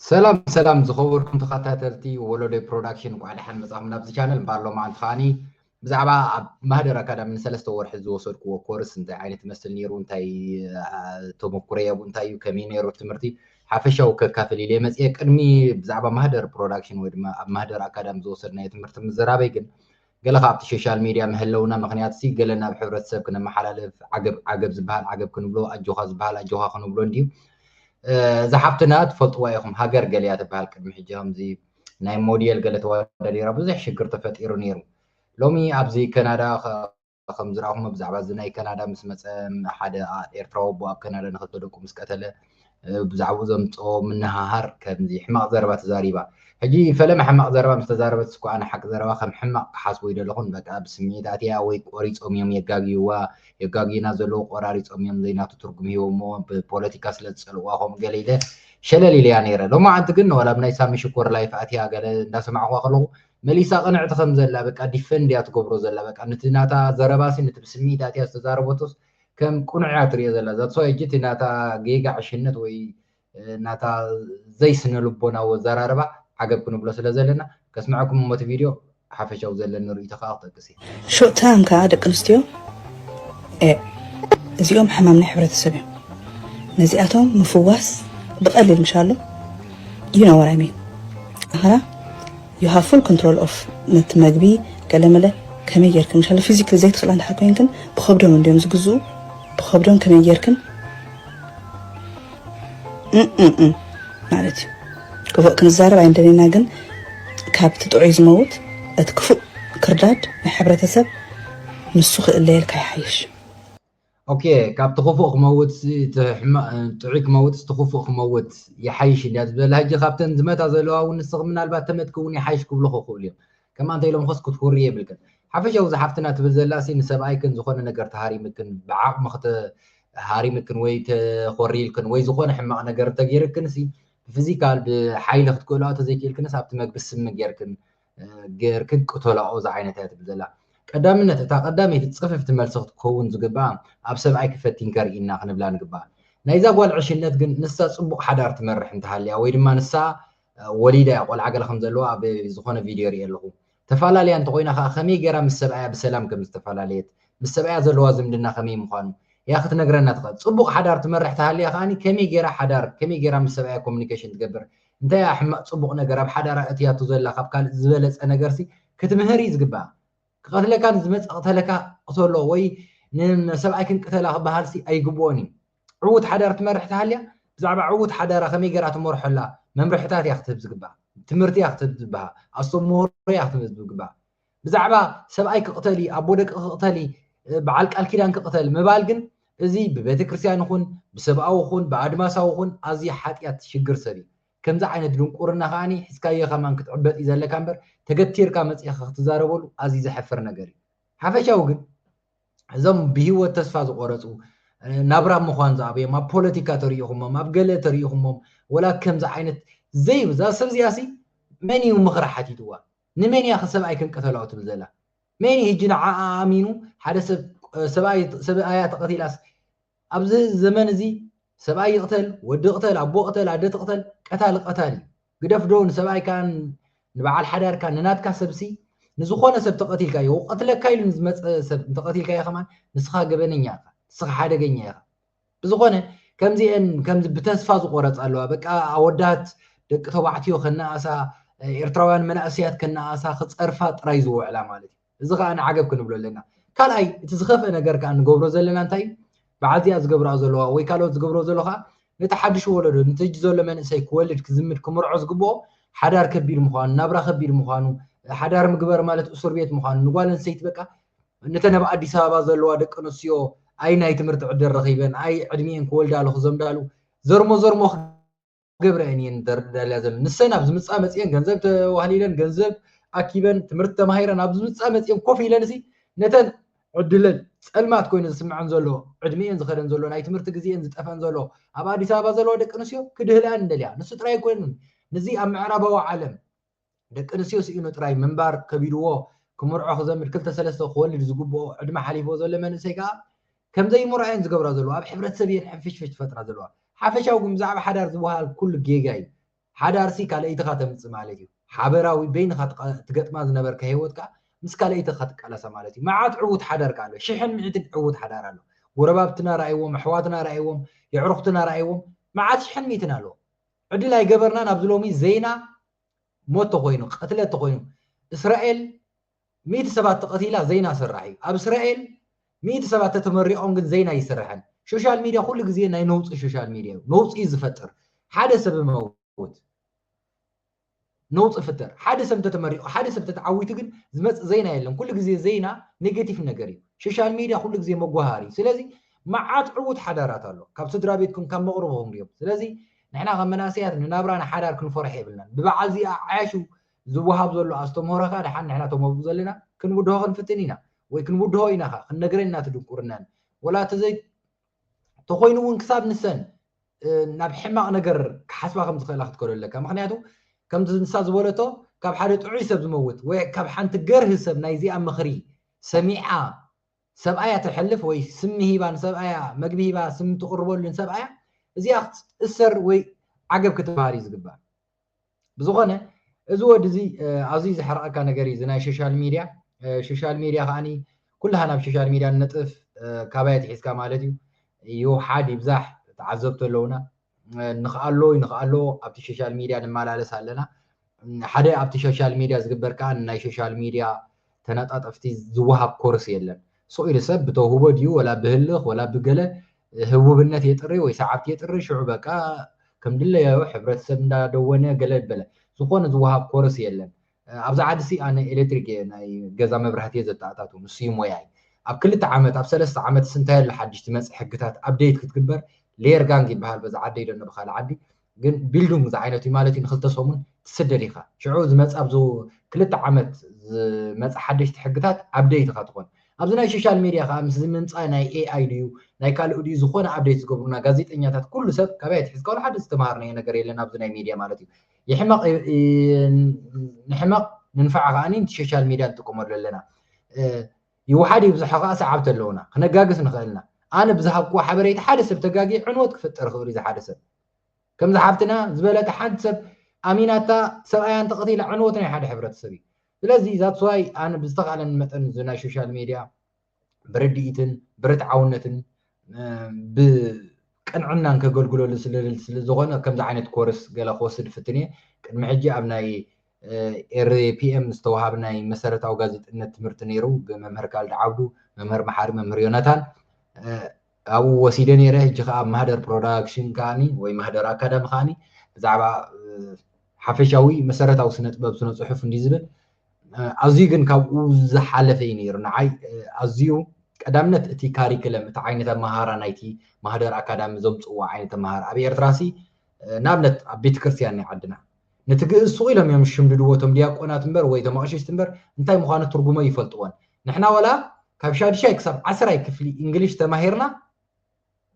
ሰላም ሰላም ዝኸበርኩም ተኸታተልቲ ወሎዶይ ፕሮዳክሽን እንቋዕ ደሓን መጻኹም ናብዚ ቻነል እምበኣር ሎማዓንቲ ከዓኒ ብዛዕባ ኣብ ማህደር ኣካዳሚ ንሰለስተ ወርሒ ዝወሰድክዎ ኮርስ እንታይ ዓይነት ይመስል ነይሩ እንታይ ተመኩረ የቡ እንታይ እዩ ከመይ ነይሩ ትምህርቲ ሓፈሻዊ ከካፍል ኢለ መፅኤ ቅድሚ ብዛዕባ ማህደር ፕሮዳክሽን ወይ ድማ ኣብ ማህደር ኣካዳሚ ዝወሰድናዮ ትምህርቲ ምዝራበይ ግን ገለ ካብቲ ሾሻል ሜድያ መሀለውና ምኽንያትሲ ገለ ናብ ሕብረተሰብ ክነመሓላልፍ ዓገብ ዓገብ ዝብሃል ዓገብ ክንብሎ ኣጆኻ ዝብሃል ኣጆኻ ክንብሎ እንድዩ እዛ ሓፍትና ትፈልጥዋ ኢኹም ሃገር ገለያ ትብሃል ቅድሚ ሕጂ ከምዚ ናይ ሞዴል ገለ ተወዳዲራ ብዙሕ ሽግር ተፈጢሩ ነይሩ ሎሚ ኣብዚ ከናዳ ከም ዝረኣኹሞ ብዛዕባ እዚ ናይ ከናዳ ምስ መፀ ሓደ ኤርትራዊ ኣቦ ኣብ ከናዳ ንክልተ ደቁ ምስ ቀተለ ብዛዕባኡ ዘምጽኦ ምንህሃር ከምዚ ሕማቕ ዘረባ ተዛሪባ ሕጂ ፈለማ ሕማቕ ዘረባ ምስ ተዛረበትስ እኮ ኣነ ሓቂ ዘረባ ከም ሕማቕ ክሓስቦ ኣይደለኹን በቃ ብስምዒት ኣትያ ወይ ቆሪጾም እዮም የጋግዩዋ የጋግዩና ዘለዉ ቆራሪጾም እዮም ዘይናቱ ትርጉም ሂቦሞ ብፖለቲካ ስለ ዝጸልእዋ ከምኡ ገለ ኢለ ሸለል ኢለያ ነይረ ሎማዓንቲ ግን ዋላ ብናይ ሳሚ ሽኮር ላይፍ ኣትያ ገለ እንዳሰማዕኳ ከለኹ መሊሳ ቅንዕቲ ከም ዘላ በቃ ዲፈንድ እያ ትገብሮ ዘላ በቃ ነቲ ናታ ዘረባሲ ነቲ ብስምዒት ኣትያ ዝተዛረበቶስ ከም ቅኑዕ እያ ትሪኦ ዘላ that's why ሕጂ እቲ ናታ ጌጋ ዕሽነት ወይ ናታ ዘይስነልቦናዊ ኣዘራርባ ዓገብ ክንብሎ ስለ ዘለና ከስምዐኩም እሞ እቲ ቪድዮ ሓፈሻዊ ዘለኒ ርእይቶ ከኣ ክጠቅስ እየ ሾርት ታይም ከኣ ደቂ ኣንስትዮ እዚኦም ሕማም ናይ ሕብረተሰብ እዮም ነዚኣቶም ምፍዋስ ብቐሊል ምሻሎ ዩ ኖ ወር ኣይ ሚን ኣኸራ you have full control of ነቲ መግቢ ገለመለ ከመይ ጌርክን ምሻለ ፊዚክሊ ዘይትኽእላ እንድሕር ኮይንክን ብኸብዶም እንድዮም ዝግዝኡ ብኸብዶም ከመይ ጌርክን ማለት እዩ ክፉእ ክንዛረብ ኣይንደለና ግን ካብቲ ጥዑይ ዝመውት እቲ ክፉእ ክርዳድ ናይ ሕብረተሰብ ንሱ ክእለየልካ ይሓይሽ ኦኬ ካብቲ ክፉእ ክመውትሲ እቲ ሕማቕ ጥዑይ ክመውትሲ እቲ ክፉእ ክመውት ይሓይሽ እንድያ ዝበላ ሕጂ ካብተን ዝመታ ዘለዋ እውን ንስኺ ምናልባት ተመትኪ እውን ይሓይሽ ክብልኹ ክኽእሉ እዮም ከምኣ እንተ ኢሎምኽስ ክትኩርይ የብልክን ሓፈሻዊ እዛ ሓፍትና ትብል ዘላሲ ንሰብኣይክን ዝኾነ ነገር ተሃሪምክን ብዓቕሚ ክተ ሃሪምክን ወይ ተኾሪልክን ወይ ዝኾነ ሕማቕ ነገር እንተገይርክንሲ ብፊዚካል ብሓይሊ ክትክእልኦ ተዘይክእልክንስ ኣብቲ መግቢ ስሚ ጌርክን ጌርክን ቅተላኦ ዝዓይነት እያ ትብል ዘላ ቀዳምነት እታ ቀዳመይቲ ጽፍፍቲ መልሲ ክትከውን ዝግብኣ ኣብ ሰብኣይኪ ፈቲንኪ ኣርኢና ክንብላ ንግብኣ ናይዛ ጓል ዕሽነት ግን ንሳ ጽቡቕ ሓዳር ትመርሕ እንተሃልያ ወይ ድማ ንሳ ወሊዳ እያ ቆልዓ ገለ ከም ዘለዋ ኣብ ዝኾነ ቪድዮ ሪእ ኣለኹ ተፈላለያ እንተኾይና ከዓ ከመይ ገይራ ምስ ሰብኣያ ብሰላም ከም ዝተፈላለየት ምስ ሰብኣያ ዘለዋ ዝምድና ከመይ ምዃኑ እያ ክትነግረና ትኽእል ጽቡቕ ሓዳር ትመርሕ ተሃልያ ከዓኒ ከመይ ገይራ ሓዳር ከመይ ገይራ ምስ ሰብኣያ ኮሚኒኬሽን ትገብር እንታይ እያ ሕማቅ ጽቡቅ ነገር ኣብ ሓዳራ ኣእትያቶ ዘላ ካብ ካልእ ዝበለጸ ነገርሲ ክትምህር እዩ ዝግብኣ ክቀትለካ ንዝመጽእ ቅተለካ ቅተሎ ወይ ንሰብኣይክን ቅተላ ክበሃልሲ ኣይግብኦን እዩ ዕዉት ሓዳር ትመርሕ ተሃልያ ብዛዕባ ዕዉት ሓዳራ ከመይ ገራ ትመርሖ ኣላ መምርሕታት እያ ክትህብ ዝግብኣ ትምህርቲ እያ ክትህብ ዝግብኣ ኣስተምህሮ እያ ክትህብ ዝግብኣ ብዛዕባ ሰብኣይ ክቕተሊ ኣቦ ደቂ ክቕተሊ በዓል ቃል ኪዳን ክቕተል ምባል ግን እዚ ብቤተ ክርስቲያን ይኹን ብሰብኣዊ ኹን ብኣድማሳዊ ኹን ኣዝዩ ሓጢኣት ሽግር ሰብ እዩ ከምዚ ዓይነት ድንቁርና ከዓኒ ሒዝካዮ ከማን ክትዕበጥ እዩ ዘለካ እምበር ተገቲርካ መጺኻ ክትዛረበሉ ኣዝዩ ዘሕፍር ነገር እዩ ሓፈሻዊ ግን እዞም ብሂወት ተስፋ ዝቆረፁ ናብራ ምዃን ዝኣብዮም ኣብ ፖለቲካ ተሪኢኹሞም ኣብ ገለ ተሪኢኹሞም ወላ ከምዚ ዓይነት ዘይብዛ ሰብ እዚኣ ሲ መን እዩ ምኽሪ ሓቲትዋ ንመን ኢያ ሰብኣይ ክንቀተላኦ ትብል ዘላ መን ኢዩ ህጂ ንዓኣ ኣሚኑ ሓደ ሰብ ሰብኣይ ሰብኣያ ተቀቲላስ ኣብዚ ዘመን እዚ ሰብኣይ ይቅተል ወዲ ቅተል ኣቦ ቅተል ኣደ ትቅተል ቀታሊ ቀታሊ ኢዩ ግደፍ ዶ ንሰብኣይካ ንበዓል ሓዳርካ ንናትካ ሰብሲ ንዝኾነ ሰብ ተቀቲልካዮ ክቀትለካ ኢሉ ንዝመጸ ሰብ እንተቀቲልካዮ ከማን ንስኻ ገበነኛ ኢኻ ንስኻ ሓደገኛ ኢኻ ብዝኾነ ከምዚኤን ከምዚ ብተስፋ ዝቆረጻ ኣለዋ በቃ ኣወዳት ደቂ ተባዕትዮ ከነኣሳ ኤርትራውያን መናእሰያት ከነኣሳ ክጸርፋ ጥራይ ዝውዕላ ማለት እዩ እዚ ከኣ ንዓገብ ክንብሎ ኣለና ካልኣይ እቲ ዝኸፍአ ነገር ከኣ ንገብሮ ዘለና እንታይ እዩ በዓል እዚኣ ዝገብራ ዘለዋ ወይ ካልኦት ዝገብሮ ዘሎ ከኣ ነቲ ሓድሽ ወለዶ ነቲ ሕጂ ዘሎ መንእሰይ ክወልድ ክዝምድ ክምርዖ ዝግብኦ ሓዳር ከቢድ ምዃኑ ናብራ ከቢድ ምዃኑ ሓዳር ምግበር ማለት እሱር ቤት ምዃኑ ንጓል ኣንስተይቲ በቃ ነተን ኣብ ኣዲስ ኣበባ ዘለዋ ደቂ ኣንስትዮ ኣይ ናይ ትምህርቲ ዕድል ረኺበን ኣይ ዕድሚኤን ክወልዳ ኣሎ ክዘምዳሉ ዘርሞ ዘርሞ ክገብረኤን እየን ደርዳልያ ዘለን ንሰን ኣብ ዝምፃ መፅኤን ገንዘብ ተዋህሊለን ገንዘብ ኣኪበን ትምህርቲ ተማሂረን ኣብ ዝምፃ መፅኤን ኮፍ ኢለን እሲ ነተን ዕድለን ፀልማት ኮይኑ ዝስምዐን ዘሎ ዕድሚኤን ዝኸደን ዘሎ ናይ ትምህርቲ ግዜኤን ዝጠፈን ዘሎ ኣብ ኣዲስ ኣበባ ዘለዋ ደቂ ኣንስትዮ ክድህልኣን እንደልያ ንሱ ጥራይ ኣይኮይኑን ንዚ ኣብ ምዕራባዊ ዓለም ደቂ ኣንስትዮ ስኢኑ ጥራይ ምንባር ከቢድዎ ክምርዖ ክዘምድ ክልተ ሰለስተ ክወልድ ዝግብኦ ዕድመ ሓሊፍዎ ዘሎ መንእሰይ ከኣ ከም ዘይምርዖ እየን ዝገብራ ዘለዋ ኣብ ሕብረተሰብ እየን ሕንፍሽፍሽ ዝፈጥራ ዘለዋ ሓፈሻዊ ግን ብዛዕባ ሓዳር ዝወሃል ኩሉ ጌጋ እዩ ሓዳርሲ ካልኣይትኻ ተምጽእ ማለት እዩ ሓበራዊ በይንኻ ትገጥማ ዝነበርካ ሂወትካ ምስ ካልኣይትኻ ትቃላሳ ማለት እዩ መዓት ዕዉት ሓዳር ከኣ ኣሎ ሽሕን ምዕትን ዕዉት ሓዳር ኣሎ ጎረባብትና ረኣይዎም ኣሕዋትና ረኣይዎም የዕሩኽትና ረኣይዎም መዓት ሽሕን ሚትን ኣሎ ዕድል ኣይገበርናን ኣብዚ ሎሚ ዜና ሞት ተኮይኑ ቅትለት ተኮይኑ እስራኤል ሚእቲ ሰባት ተቀቲላ ዜና ስራሕ እዩ ኣብ እስራኤል ሚእቲ ሰባት ተተመሪቆም ግን ዜና ይስርሐን ሾሻል ሚድያ ኩሉ ግዜ ናይ ነውፂ ሾሻል ሚድያ እዩ ነውፂ እዩ ዝፈጥር ሓደ ሰብ መውት ነውጺ ፍጠር ሓደ ሰብ እንተ ተመሪቁ ሓደ ሰብ ተተዓዊቱ ግን ዝመጽእ ዘይና የለን ኩሉ ግዜ ዘይና ኔገቲፍ ነገር እዩ ሸሻል ሜድያ ኩሉ ግዜ መጎሃሃር እዩ ስለዚ መዓት ዕውት ሓዳራት ኣሎ ካብ ስድራቤትኩም ካብ መቅርብኹም ድዮም ስለዚ ንሕና ከም መናእሰያት ንናብራ ንሓዳር ክንፈርሖ የብልናን ብበዓል እዚ ኣዓያሹ ዝወሃብ ዘሎ ኣስተምህሮ ከኣ ደሓን ንሕና እቶም ኣብኡ ዘለና ክንብድሆ ክንፍትን ኢና ወይ ክንብድሆ ኢና ከኣ ክንነግረን ኢና እቲ ድንቁርናን ወላ እቲ ዘይ ተኾይኑ'ውን ክሳብ ንሰን ናብ ሕማቕ ነገር ክሓስባ ከም ዝኽእላ ክትከዶ ኣለካ። ምኽንያቱ ከምዚ ንሳ ዝበለቶ ካብ ሓደ ጥዑይ ሰብ ዝመውት ወይ ካብ ሓንቲ ገርህ ሰብ ናይ እዚኣ ምኽሪ ሰሚዓ ሰብኣያ ተሕልፍ ወይ ስሚ ሂባ ንሰብኣያ መግቢ ሂባ ስሚ ትቕርበሉ ንሰብኣያ እዚኣ ክትእሰር ወይ ዓገብ ክትበሃል እዩ ዝግባእ። ብዝኾነ እዚ ወዲ እዚ ኣዝዩ ዘሕርቐካ ነገር እዩ እዚ ናይ ሾሻል ሚድያ ሾሻል ሚድያ ከዓኒ ኩላሃ ናብ ሾሻል ሚድያ ንነጥፍ ካባይ ኣትሒዝካ ማለት እዩ ይውሓድ ይብዛሕ ተዓዘብቲ ኣለውና ንኽኣሎ ንኽኣሎ ኣብቲ ሾሻል ሚድያ ንመላለስ ኣለና ሓደ ኣብቲ ሾሻል ሚድያ ዝግበር ከዓ ናይ ሾሻል ሚድያ ተነጣጠፍቲ ዝወሃብ ኮርስ የለን። ስቕ ኢሉ ሰብ ብተውህቦ ድዩ ወላ ብህልኽ ወላ ብገለ ህቡብነት የጥሪ ወይ ሰዓብቲ የጥሪ ሽዑ በቃ ከም ድለያዮ ሕብረተሰብ እንዳ ደወነ ገለ በለ ዝኾነ ዝወሃብ ኮርስ የለን። ኣብዛ ዓድሲ ኣነ ኤሌክትሪክ እየ ናይ ገዛ መብራህቲ እየ ዘተኣታቱ ንሱ እዩ ሞያይ። ኣብ ክልተ ዓመት ኣብ ሰለስተ ዓመትስ እንታይ ኣሎ ሓድሽ ዝመጽእ ሕግታት ኣብደይት ክትግበር ሌየር ጋንግ ይበሃል በዛ ዓደይ ዶ እነ ብኻልእ ዓዲ ግን ቢልዱንግ ዝዓይነቱ እዩ ማለት እዩ ንክልተ ሰሙን ትስደድ ኢካ ሽዑ ዝመጽ ኣብዚ ክልተ ዓመት ዝመጽ ሓደሽቲ ሕግታት ኣብደይት ኢካ ትኮን ኣብዚ ናይ ሾሻል ሜድያ ከኣ ምስ ዝምምጻ ናይ ኤኣይ ድዩ ናይ ካልእ ድዩ ዝኮነ ኣብደይት ዝገብሩና ጋዜጠኛታት ኩሉ ሰብ ካበይ ኣትሒዝካ ወላ ሓደ ዝተማሃርናዮ ነገር የለን ኣብዚ ናይ ሜድያ ማለት እዩ ይሕመቅ ንሕመቅ ንንፋዕ ከኣ ንቲ ሾሻል ሜድያ ንጥቀመሉ ኣለና ይውሓድ ይብዛሖ ከኣ ሰዓብቲ ኣለዉና። ክነጋግስ ንኽእል ኢና። ኣነ ብዝሃብክዎ ሓበሬታ ሓደ ሰብ ተጋግየ ዕንወት ክፍጠር ይኽእል'ዩ ዝሓደ ሰብ። ከምዛ ሓብትና ዝበለታ ሓንቲ ሰብ ኣሚናታ ሰብኣያ እንተቐቲላ ዕንወት ናይ ሓደ ሕብረተሰብ እዩ። ስለዚ that's why ኣነ ብዝተኻእለኒ መጠን እዚ ናይ ሾሻል ሜድያ ብርድኢትን ብርትዓውነትን ብቅንዕናን ከገልግለሉ ስለ ዝደሊ ስለ ዝኾነ ከምዚ ዓይነት ኮርስ ገለ ክወስድ እፍትን እየ። ቅድሚ ሕጂ ኣብ ናይ ኤርፒኤም ዝተውሃብ ናይ መሰረታዊ ጋዜጠነት ትምህርቲ ነይሩ ብመምህር ካልድ ዓብዱ፣ መምህር መሓሪ፣ መምህር ዮናታን ኣብኡ ወሲደ ነይረ። ሕጂ ከዓ ኣብ ማህደር ፕሮዳክሽን ከዓኒ ወይ ማህደር ኣካዳሚ ከዓኒ ብዛዕባ ሓፈሻዊ መሰረታዊ ስነ ጥበብ ስነ ጽሑፍ እንዲ ዝብል ኣዝዩ ግን ካብኡ ዝሓለፈ እዩ ነይሩ ንዓይ ኣዝዩ ቀዳምነት እቲ ካሪክለም እቲ ዓይነት ኣመሃራ ናይቲ ማህደር ኣካዳሚ ዘምፅዎ ዓይነት ኣመሃራ ኣብ ኤርትራሲ ንኣብነት ኣብ ቤተክርስትያን ናይ ዓድና ነቲ ግእዝ ሱቕ ኢሎም እዮም ዝሽምድድዎ እቶም ድያቆናት እምበር ወይ እቶም ኣቕሽሽቲ እምበር እንታይ ምዃኑ ትርጉሙ ኣይፈልጥዎን። ንሕና ዋላ ካብ ሻድሻይ ክሳብ ዓስራይ ክፍሊ እንግሊሽ ተማሂርና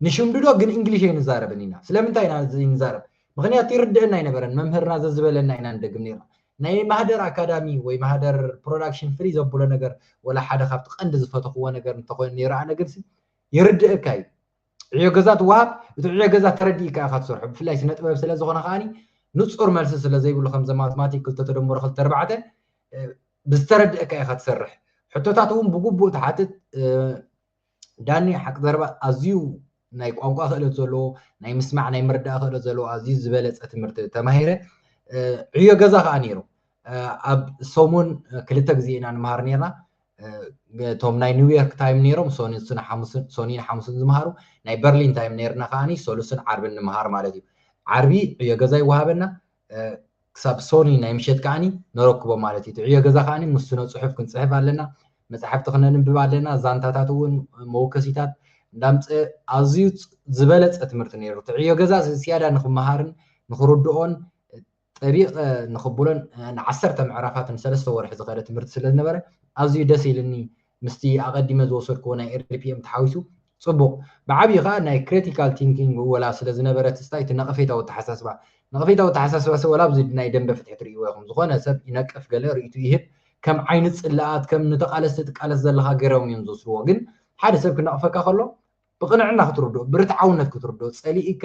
ንሽምድዶ ግን እንግሊሽ ኣይንዛረብን ኢና። ስለምንታይ ኢና ዘይንዛረብ? ምኽንያቱ ይርድእና ኣይነበረን መምህርና ዘዝበለና ኢና ንደግም ነይርና። ናይ ማህደር ኣካዳሚ ወይ ማህደር ፕሮዳክሽን ፍልይ ዘብሎ ነገር ወላ ሓደ ካብቲ ቀንዲ ዝፈተኽዎ ነገር እንተኾይኑ ነይሩ ኣነ ግንሲ ይርድእካ እዩ። ዕዮ ገዛ ትወሃብ እቲ ዕዮ ገዛ ተረዲእካ ኢኻ ትሰርሖ ብፍላይ ስነ ጥበብ ስለ ዝኾነ ከኣ ንጹር መልሲ ስለ ዘይብሉ ከምዘ ማትማቲክ ክልተ ተደምሮ ክልተ ኣርባዕተ ብዝተረድእካ ኢኻ ትሰርሕ ሕቶታት እውን ብግቡእ ትሓትት ዳኒ ሓቂ ዘረባ ኣዝዩ ናይ ቋንቋ ክእለት ዘለዎ ናይ ምስማዕ ናይ ምርዳእ ክእለት ዘለዎ ኣዝዩ ዝበለፀ ትምህርቲ ተማሂረ ዕዮ ገዛ ከዓ ነይሩ ኣብ ሰሙን ክልተ ግዜ ኢና ንምሃር ነርና እቶም ናይ ኒውዮርክ ታይም ነይሮም ሶኒን ሓሙስን ዝምሃሩ ናይ በርሊን ታይም ነርና ከዓኒ ሰሉስን ዓርብን ንምሃር ማለት እዩ ዓርቢ ዕዮ ገዛ ይወሃበና ክሳብ ሶኒ ናይ ምሸት ከዓኒ ነረክቦ ማለት እዩ ዕዮ ገዛ ከዓኒ ምስ ስነ ፅሑፍ ክንፅሕፍ ኣለና መፅሓፍቲ ክነንብብ ኣለና ዛንታታት እውን መወከሲታት እንዳምፀ ኣዝዩ ዝበለፀ ትምህርቲ ነይሩ እቲ ዕዮ ገዛ ዝያዳ ንክመሃርን ንክርድኦን ጠቢቐ ንኽብሎን ን ዓሰርተ ምዕራፋት ን ሰለስተ ወርሒ ዝኸደ ትምህርቲ ስለ ዝነበረ ኣዝዩ ደስ ኢልኒ ምስቲ ኣቐዲመ ዝወሰድክዎ ናይ RPM ተሓዊሱ ጽቡቕ ብዓቢኡ ከኣ ናይ ክረቲካል ቲንኪንግ ምወላ ስለ ዝነበረ ትዝታይ እቲ ነቐፌታዊ ኣተሓሳስባ ነቐፌታዊ ኣተሓሳስባሰ ወላ ኣብዚ ናይ ደምበ ፍትሒ ትርእይዎ ኢኹም ዝኾነ ሰብ ይነቅፍ ገለ ርእይትኡ ይህብ ከም ዓይኒ ጽላኣት ከም ንተቓለስቲ ትቃለስ ዘለኻ ገሮም እዮም ዝወስድዎ ግን ሓደ ሰብ ክነቕፈካ ከሎ ብቕንዕና ክትርድኦ ብርትዓውነት ክትርድኦ ጸሊኢካ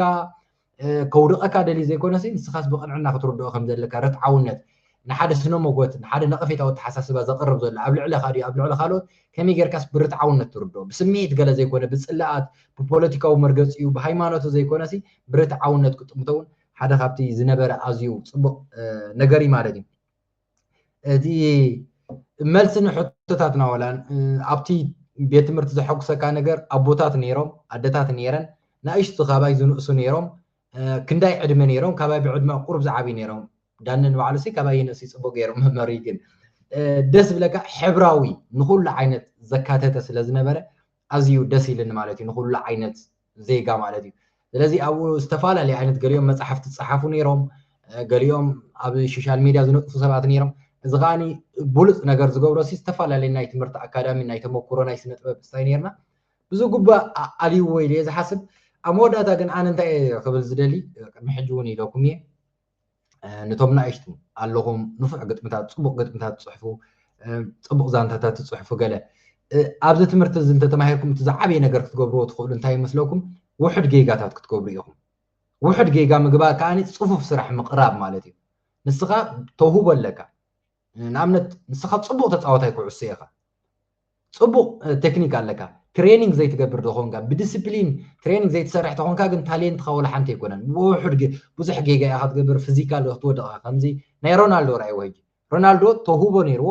ከውድቐካ ደልዩ ዘይኮነሲ ንስኻስ ብቕንዕና ክትርድኦ ከም ዘለካ ርትዓውነት ንሓደ ስነ ሞጎት ንሓደ ነቐፌታዊ ኣተሓሳስባ ዘቕርብ ዘሎ ኣብ ልዕለኻ ድዩ ኣብ ልዕሊ ካልኦት ከመይ ጌርካስ ብርትዓውነት ትርድኦ ብስምዒት ገለ ዘይኮነ ብጽላኣት ብፖለቲካዊ መርገጺኡ ብሃይማኖቱ ዘይኮነሲ ብርትዓውነት ክጥምቶ እውን ሓደ ካብቲ ዝነበረ ኣዝዩ ጽቡቕ ነገር እዩ ማለት እዩ እቲ መልሲ ንሕቶታትና ወላ ኣብቲ ቤት ትምህርቲ ዘሐጉሰካ ነገር ኣቦታት ነይሮም ኣደታት ነይረን ንእሽቲ ካባይ ዝንእሱ ነይሮም ክንዳይ ዕድመ ነይሮም ካባይ ብዕድመ ቁሩብ ዝዓብዩ ነይሮም ዳኒ ንባዕሉ ሲ ካባይ ይንእሱ ይፅቡቅ ገይሩ መመሪ ግን ደስ ብለካ ሕብራዊ ንኩሉ ዓይነት ዘካተተ ስለ ዝነበረ ኣዝዩ ደስ ኢልኒ ማለት እዩ ንኩሉ ዓይነት ዜጋ ማለት እዩ ስለዚ ኣብኡ ዝተፈላለዩ ዓይነት ገሊኦም መፃሕፍቲ ዝፀሓፉ ነይሮም ገሊኦም ኣብ ሶሻል ሚድያ ዝነጥፉ ሰባት ነይሮም እዚ ከዓ ብሉፅ ነገር ዝገብሮ ሲ ዝተፈላለዩ ናይ ትምህርቲ ኣካዳሚ ናይ ተመክሮ ናይ ስነ ጥበብ ስታይ ነርና ብዙ ጉባእ ኣልይዎ ኢለ ዝሓስብ ኣብ መወዳእታ ግን ኣነ እንታይ ክብል ዝደሊ ቅድሚ ሕጂ እውን ኢለኩም እየ ንቶም ናእሽቱ ኣለኹም ንፉዕ ግጥምታት ጽቡቕ ግጥምታት ትጽሕፉ ጽቡቕ ዛንታታት ትጽሕፉ ገለ ኣብዚ ትምህርቲ እዚ እንተተማሂርኩም እቲ ዝዓበየ ነገር ክትገብርዎ ትኽእሉ እንታይ ይመስለኩም ውሕድ ጌጋታት ክትገብሩ ኢኹም ውሕድ ጌጋ ምግባር ከዓኒ ፅፉፍ ስራሕ ምቕራብ ማለት እዩ ንስኻ ተውህቦ ኣለካ ንኣብነት ንስኻ ፅቡቕ ተፃወታይ ኩዕሶ ኢኻ ጽቡቅ ተክኒክ ኣለካ ትሬኒንግ ዘይትገብር ተኾንካ ብድስፕሊን ትሬኒንግ ዘይትሰርሕ ተኾንካ ግን ታሌንትካ ወላ ሓንቲ ኣይኮነን ብውሑድ ግን ብዙሕ ጌጋ ኢኻ ትገብር ፍዚካል ክትወድቅ ኢኻ ከምዚ ናይ ሮናልዶ ረኣይዎ ሕጂ ሮናልዶ ተውህቦ ነይርዎ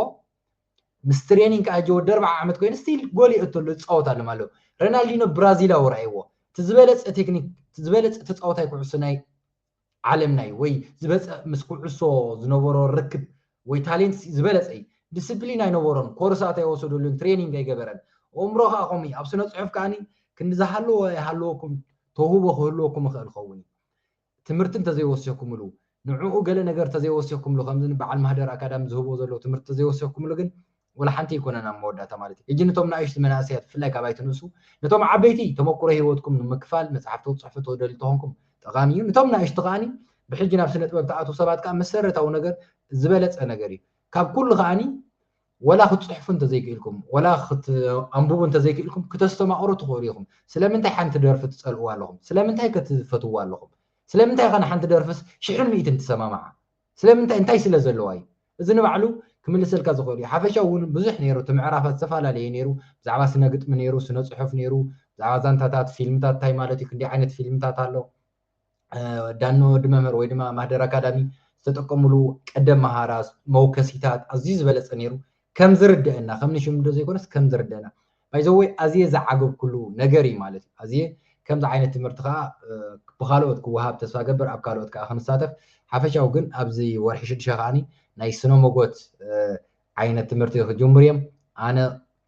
ምስ ትሬኒንግ ከዓ ሕጂ ወዲ ኣርብዓ ዓመት ኮይኑ ስቲል ጎል ይእቱ ኣሎ ዝፃወት ኣሎም ኣለዉ ረናልዲኖ ብራዚላዊ ረኣይዎ እቲ ዝበለፀ ቴክኒክ ዝበለፀ ተፃወታይ ኩዕሶ ናይ ዓለም ናይ ወይ ዝበጸ ምስ ኩዑሶ ዝነበሮ ርክብ ወይ ታሌንት ዝበለጸ እዩ ድስፕሊን ኣይነበሮን ኮርሳት ኣይወሰደሉን ትሬኒንግ ኣይገበረን ኦእምሮ ከኣ ከምኡ እዩ ኣብ ስነ ጽሑፍ ከኣ ክንዲ ዝሃለዎ ኣይሃለወኩም ተውህቦ ክህልወኩም ይኽእል ይኸውን እዩ ትምህርቲ እንተዘይወሲኽኩምሉ ንዕኡ ገለ ነገር ተዘይወሲኽኩምሉ ከምዚ ንበዓል ማህደር ኣካዳሚ ዝህቦ ዘሎ ትምህርቲ ተዘይወሲኽኩምሉ ግን ወላሓንቲ ኣይኮነን ኣብ መወዳእታ ማለት እዩ ሕጂ ንቶም ናእሽቲ መናእሰያት ብፍላይ ካብ ኣይትንእሱ ንቶም ዓበይቲ ተመኩሮ ሂወትኩም ንምክፋል መጽሓፍቲ ክትጽሕፉ ትደልዩ ተኾንኩም ጠቃሚ እዩ ንቶም ናእሽቲ ከኣ ብሕጂ ናብ ስነጥበብ ትኣትዉ ሰባት ከኣ መሰረታዊ ነገር ዝበለጸ ነገር እዩ ካብ ኩሉ ከኣ ወላ ክትጽሕፉ እንተዘይክኢልኩም ወላ ክትኣንብቡ እንተዘይክኢልኩም ክተስተማቅሩ ትኽእሉ ኢኹም ስለምንታይ ሓንቲ ደርፊ ትጸልእዋ ኣለኹም ስለምንታይ ከ ትፈትውዋ ኣለኹም ስለምንታይ ከ ንሓንቲ ደርፍስ ሽሕን ሚእትን ትሰማምዓ ስለምንታይ እንታይ ስለ ዘለዋ እዩ እዚ ንባዕሉ ክምልሰልካ ዝኽእል እዩ ሓፈሻዊ ውን ብዙሕ ነይሩ እቲ ምዕራፋት ዝተፈላለየ ነይሩ ብዛዕባ ስነ ግጥሚ ነይሩ ስነ ጽሑፍ ነይሩ ብዛዕባ ዛንታታት ፊልምታት እንታይ ማለት እዩ ክንደይ ዓይነት ፊልምታት ኣሎ ዳኖ ወዲ መምህር ወይ ድማ ማህደር ኣካዳሚ ዝተጠቀምሉ ቀደም መሃራት መውከሲታት ኣዝዩ ዝበለጸ ነይሩ ከም ዝርደአና ከም ንሽምዶ ዘይኮነስ ከም ዝርደአና ባይዘወይ ኣዝየ ዝዓገብኩሉ ነገር እዩ ማለት እዩ ኣዝየ ከምዚ ዓይነት ትምህርቲ ከዓ ብካልኦት ክወሃብ ተስፋ ገብር ኣብ ካልኦት ከዓ ክንሳተፍ ሓፈሻዊ ግን ኣብዚ ወርሒ ሽዱሸ ከዓኒ ናይ ስነ መጎት ዓይነት ትምህርቲ ክጅምሩ እዮም ኣነ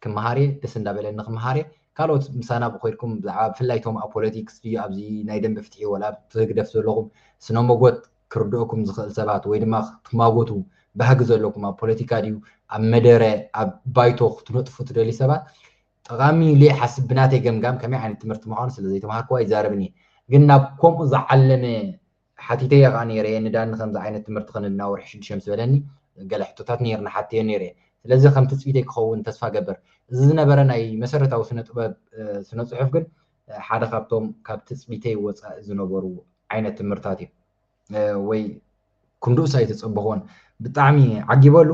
ክመሃር እየ ደስ እንዳበለኒ ክመሃር እየ ካልኦት ምሳና ብኮይድኩም ብዛዕባ ብፍላይ ቶም ኣብ ፖለቲክስ ድዩ ኣብዚ ናይ ደንበ ፍትሒ ወላ ኣብ ህግደፍ ዘለኹም ስነ መጎት ክርድኦኩም ዝኽእል ሰባት ወይ ድማ ክትማጎቱ ባህጊ ዘለኩም ኣብ ፖለቲካ ድዩ ኣብ መደረ ኣብ ባይቶ ክትነጥፉ ትደልዩ ሰባት ጠቓሚ እዩ ኢለ ይሓስብ ብናተይ ገምጋም ከመይ ዓይነት ትምህርቲ ምዃኑ ስለ ዘይተማሃርኩ ኣይዛረብን እየ ግን ናብ ከምኡ ዝዓለመ ሓቲተዮ ከዓ ነይረ እየ ንዳኒ ከምዚ ዓይነት ትምህርቲ ክንድና ወርሒ ሽዱሽተ ምስ በለኒ ገለ ሕቶታት ነይርኒ ሓቲዮ ነይረ እየ ስለዚ ከም ትፅቢተይ ክኸውን ተስፋ ገብር እዚ ዝነበረ ናይ መሰረታዊ ስነ ጥበብ ስነ ፅሑፍ ግን ሓደ ካብቶም ካብ ትጽቢተይ ወጻኢ ዝነበሩ ዓይነት ትምህርታት እዩ ወይ ክንድኡስ ኣይተጸበኽዎን ብጣዕሚ ዓጊበሉ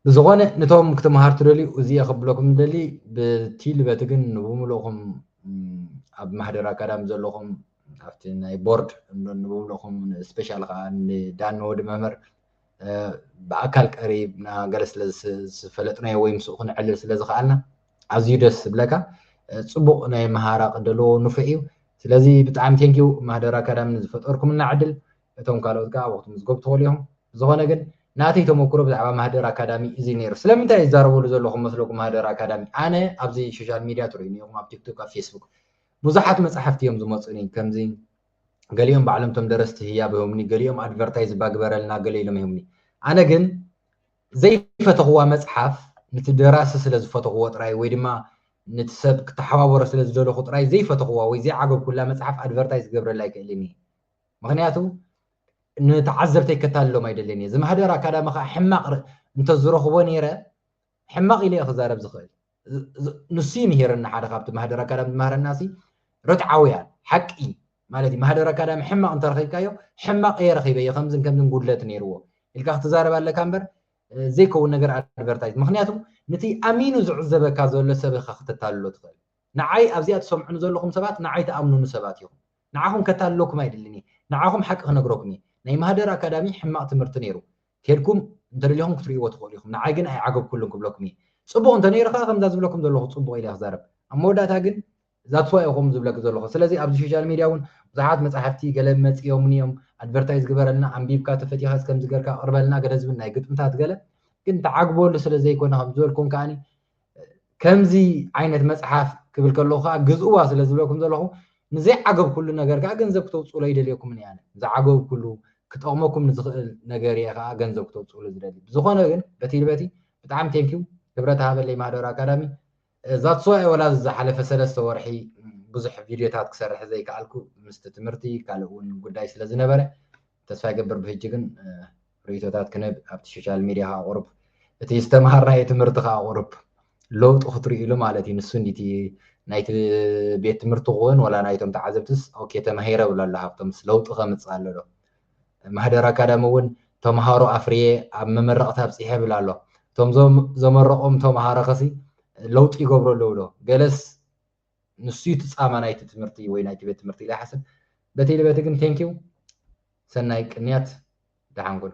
ብዝኾነ ንቶም ክትምሃር ትደልዩ እዚየ ክብለኩም ደሊ ብቲ ልበቲ ግን ንብምልእኹም ኣብ ማህደር ኣካዳሚ ዘለኹም ኣብቲ ናይ ቦርድ ንብምልእኹም ስፔሻል ከዓ ንዳን ወዲ መምህር ብኣካል ቀሪብና ገለ ስለዝፈለጥናዮ ወይ ምስኡ ክንዕልል ስለዝኸኣልና ኣዝዩ ደስ ዝብለካ ጽቡቕ ናይ መሃራ ቅደሎ ንፉዕ እዩ ስለዚ ብጣዕሚ ቴንኪዩ ማህደር ኣካዳሚ ንዝፈጠርኩምና ዕድል እቶም ካልኦት ከዓ ኣብኡ ክትምዝገቡ ትኽእሉ እዮም ዝኾነ ግን ናተይ ተመክሮ ብዛዕባ ማህደር ኣካዳሚ እዚ ነይሩ ስለምንታይ ይዛረበሉ ዘለኹ መስለኩም ማህደር ኣካዳሚ ኣነ ኣብዚ ሶሻል ሚድያ ትርእዩኒ ኢኹም ኣብ ቲክቶክ ኣብ ፌስቡክ ብዙሓት መፅሓፍቲ እዮም ዝመፁኒ ከምዚ ገሊኦም ባዕሎም ቶም ደረስቲ ህያብ ይህቡኒ ገሊኦም ኣድቨርታይዝ ባግበረልና ገለ ኢሎም ይህቡኒ ኣነ ግን ዘይፈተኹዋ መጽሓፍ ንቲ ደራሲ ስለ ዝፈተኹዎ ጥራይ ወይ ድማ ንቲ ሰብ ክተሓባበሮ ስለ ዝደለኹ ጥራይ ዘይፈተኹዋ ወይ ዘይዓገብኩላ መጽሓፍ ኣድቨርታይዝ ክገብረላ ኣይክእልን እየ። ምኽንያቱ ንተዓዘብተይ ከታልሎም ኣይደልን እየ። ዝማህደር ኣካዳሚ ከኣ ሕማቕ እንተዝረኽቦ ነይረ ሕማቕ ኢለ እየ ክዛረብ ዝኽእል። ንሱ ይምሂረና ሓደ ካብቲ ማህደር ኣካዳሚ ዝማሃረና ሲ ርትዓውያን ሓቂ ማለት እዩ ማህደር ኣካዳሚ ሕማቕ እንተረኺብካዮ ሕማቕ እየ ረኺበዮ ከምዝን ከምዝን ጉድለት ነይርዎ ኢልካ ክትዛረብ ኣለካ እምበር ዘይከውን ነገር ኣድቨርታይዝ ምክንያቱ ነቲ ኣሚኑ ዝዕዘበካ ዘሎ ሰብ ኢኻ ክተታልሎ ትኽእል ንዓይ ኣብዚኣ ትሰምዑኒ ዘለኹም ሰባት ንዓይ ተኣምኑኑ ሰባት ኢኹም ንዓኹም ከታልለኩም ኣይድልን እየ ንዓኹም ሓቂ ክነግረኩም እየ ናይ ማህደር ኣካዳሚ ሕማቕ ትምህርቲ ነይሩ ኬድኩም እንተደሊኹም ክትርእይዎ ትኽእሉ ኢኹም ንዓይ ግን ኣይዓገብኩሉን ክብለኩም እየ ጽቡቕ እንተነይሩ ከኣ ከምዛ ዝብለኩም ዘለኹ ጽቡቕ ኢለ ክዛረብ ኣብ መወዳእታ ግን ዛትስ ዋይ እኹም ዝብለኪ ዘለኹ ስለዚ ኣብዚ ሾሻል ሜድያ ውን ብዙሓት መጻሕፍቲ ገለ መጺኦምኒ እዮም ኣድቨርታይዝ ግበረልና ኣንቢብካ ተፈቲኻ እስከ ከምዚ ገርካ ኣቕርበልና ገለ ዝብል ናይ ግጥምታት ገለ ግን ትዓግበሉ ስለ ዘይኮነ ከም ዝበልኩም ከኣ ከምዚ ዓይነት መጽሓፍ ክብል ከለኹ ከዓ ግዝእዋ ስለ ዝብለኩም ዘለኹ ንዘይዓገብኩሉ ነገር ከዓ ገንዘብ ክተውፅኡሉ ኣይደልየኩምን እያ ዝዓገብኩሉ ክጠቕመኩም ንዝኽእል ነገር እየ ከዓ ገንዘብ ክተውፅኡሉ ዝደሊ ብዝኾነ ግን በቲ ልበቲ ብጣዕሚ ቴንኪው ክብረት ሃበለይ ማህደር ኣካዳሚ ዛትስ ዋይ ወላ ዝሓለፈ ሰለስተ ወርሒ ብዙሕ ቪድዮታት ክሰርሕ ዘይከኣልኩ ምስቲ ትምህርቲ ካልእ እውን ጉዳይ ስለ ዝነበረ ተስፋ ይገብር ብሕጂ ግን ርእይቶታት ክንህብ ኣብቲ ሶሻል ሚድያ ከዓ ቁሩብ እቲ ዝተምሃርናዮ ትምህርቲ ከዓ ቁሩብ ለውጢ ክትርእይሉ ማለት እዩ ንሱ እንዲቲ ናይቲ ቤት ትምህርቲ ክውን ወላ ናይቶም ተዓዘብትስ ኦኬ ተማሂረ ብሎ ኣሎ ሃብቶምስ ለውጢ ከምፅእ ኣሎ ዶ ማህደር ኣካዳሚ እውን ተምሃሮ ኣፍርየ ኣብ መመረቕታ ኣብፅሐ ብል ኣሎ እቶም ዘመረቖም ተምሃሮ ከሲ ለውጢ ይገብሩ ኣለዉ ዶ ገለስ ንሱ ዩ እቲ ጻማ ናይቲ ትምህርቲ ወይ ናይቲ ቤት ትምህርቲ ኢለ ይሓስብ በቲ ልበቲ ግን thank you ሰናይ ቅንያት ደሓን ኩን።